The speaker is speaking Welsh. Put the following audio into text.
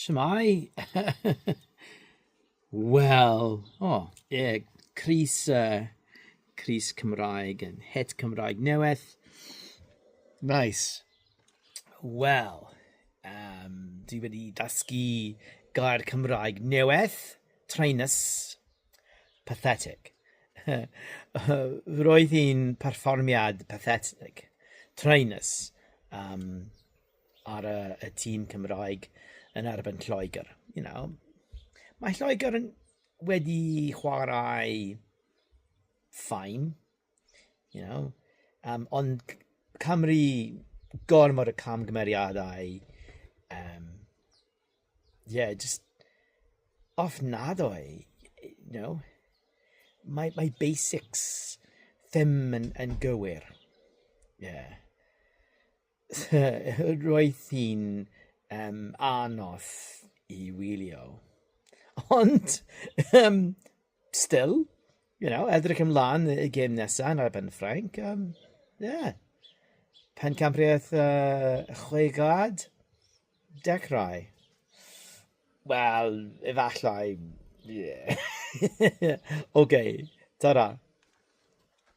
Shwmai? Wel, o, oh, ie, yeah, Cris, uh, Cris Cymraeg yn het Cymraeg newydd. Nice. Wel, um, dwi wedi dasgu gair Cymraeg newydd, trainus, Pathetic. Roedd hi'n perfformiad pathetic, traenus um, ar y, y tîm Cymraeg yn erbyn Lloegr. You know, mae Lloegr yn wedi chwarae ffain, you know, um, ond Cymru gormod y camgymeriadau um, Ie jyst ofnadwy you know mae mae basics ddim yn yn gywir ie roedd hi'n yym anodd i wylio ond yym still you know edrych ymlan y gêm nesa yn ar ben Ffrainc yym ie pencampwriaeth yy y chwe gwlad. Dechrau? Wel, efallai, ie. Ocê, ta-ra.